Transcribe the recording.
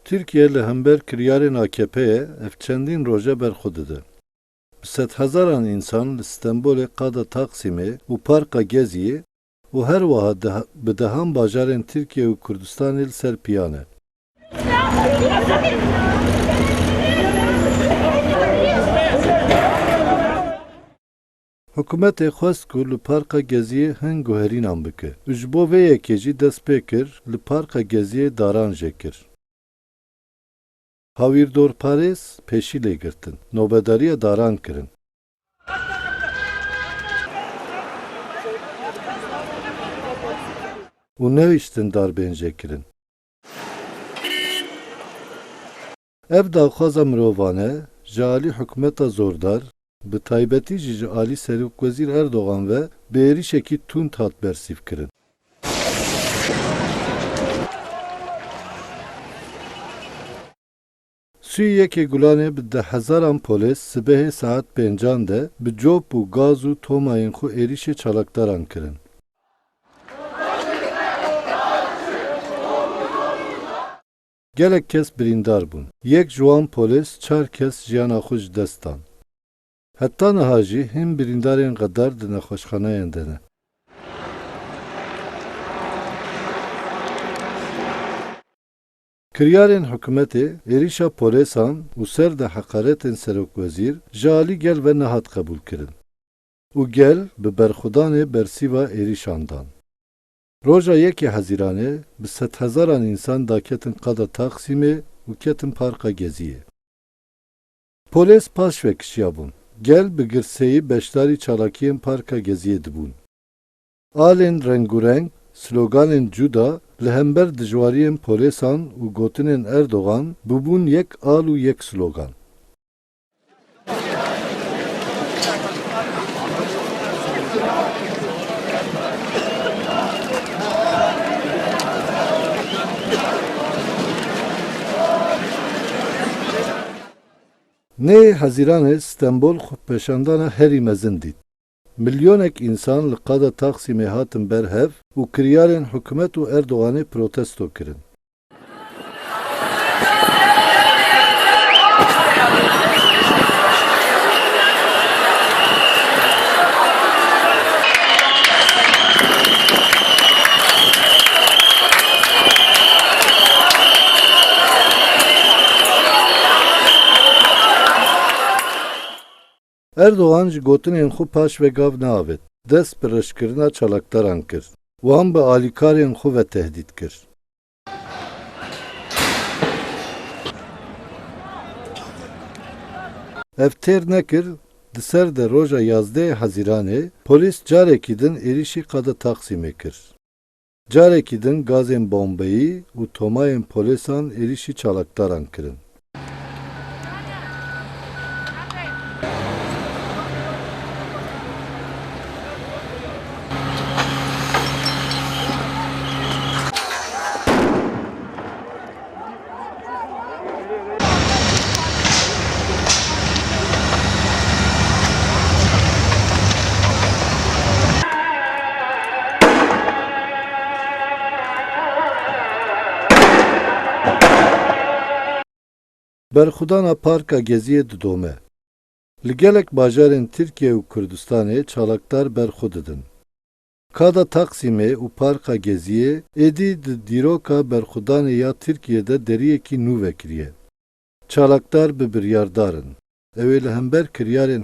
Tirkiye li hember kiryarên AKP'ê ev çendîn roj e berxwe dide. Bi sedhezaran însan li Stenbolê qada Taksimê û Parka Geziyê û her wiha di bi dehan bajarên Tirkiye û Kurdistanê li ser piyan e. Hikûmetê xwest ku li Parka Geziyê hin guherînan bike û ji bo vê yekê jî dest pê kir li Parka Geziyê daran jê kir. Hawîrdorparêz pêşî lê girtin, nobedariya daran kirin. Û nehiştin dar bên jê kirin. Ev daxwaza mirovan e, ji alî hikûmeta zordar, bi taybetî jî ji alî Serokwezîr Erdogan ve bi êrîşekî tund hat bersîvkirin. Sûyî yekê gulanê bi di hezaran polês sibehê saet pêncan de bi cop û gaz û tomayên xwe êrîşê çalakdaran kirin. Gelek kes birîndar bûn. Yek ji wan polês çar kes jiyana xwe ji dest dan. Heta niha jî hîn birîndarên xedar di nexweşxaneyan de ne. Kiryarên hikûmetê, êrîşa polêsan û ser de heqaretên serokwezîr ji alî gel ve nehat qebûlkirin û gel bi berxwedanê bersîva êrîşan dan. Roja yekê Hezîranê bi sedhezaran însan daketin qada Taksîmê û ketin Parka Geziyê. Polês paş ve kişiyabûn. Gel bi girseyî beşdarî çalakiyên Parka Geziyê dibûn. Alên rengûreng, sloganên cuda li hember dijwariyên polêsan û gotinên Erdogan bûbûn yek al û yek slogan. Nê Hezîranê Stenbol xwepeşandana herî mezin dît. Milyonek însan li qada Taksîmê hatin ber hev û kiryarên hikûmet û Erdoganê protesto kirin. Erdogan ji gotinên xwe paş ve gav neavêt, dest bi reşkirina çalakdaran kir, wan bi alîkarên xwe ve tehdît kir. Ev têr nekir, di ser de roja yazdehê Hezîranê polîs carekî din êrîşî qada Taksîmê kir. Carekî din gazên bombeyî û tomayên polêsan êrîşî çalakdaran kirin. Berxwedana Parka Geziyê didome. Li gelek bajarên Tirkiye û Kurdistanê çalakdar berxwe didin. Kada Taksîmê û Parka Geziyê êdî di dîroka berxwedanê ya Tirkiyê de deriyekî nû vekiriye. Çalakdar bi biryardar in. Ew ê li hember kiryarên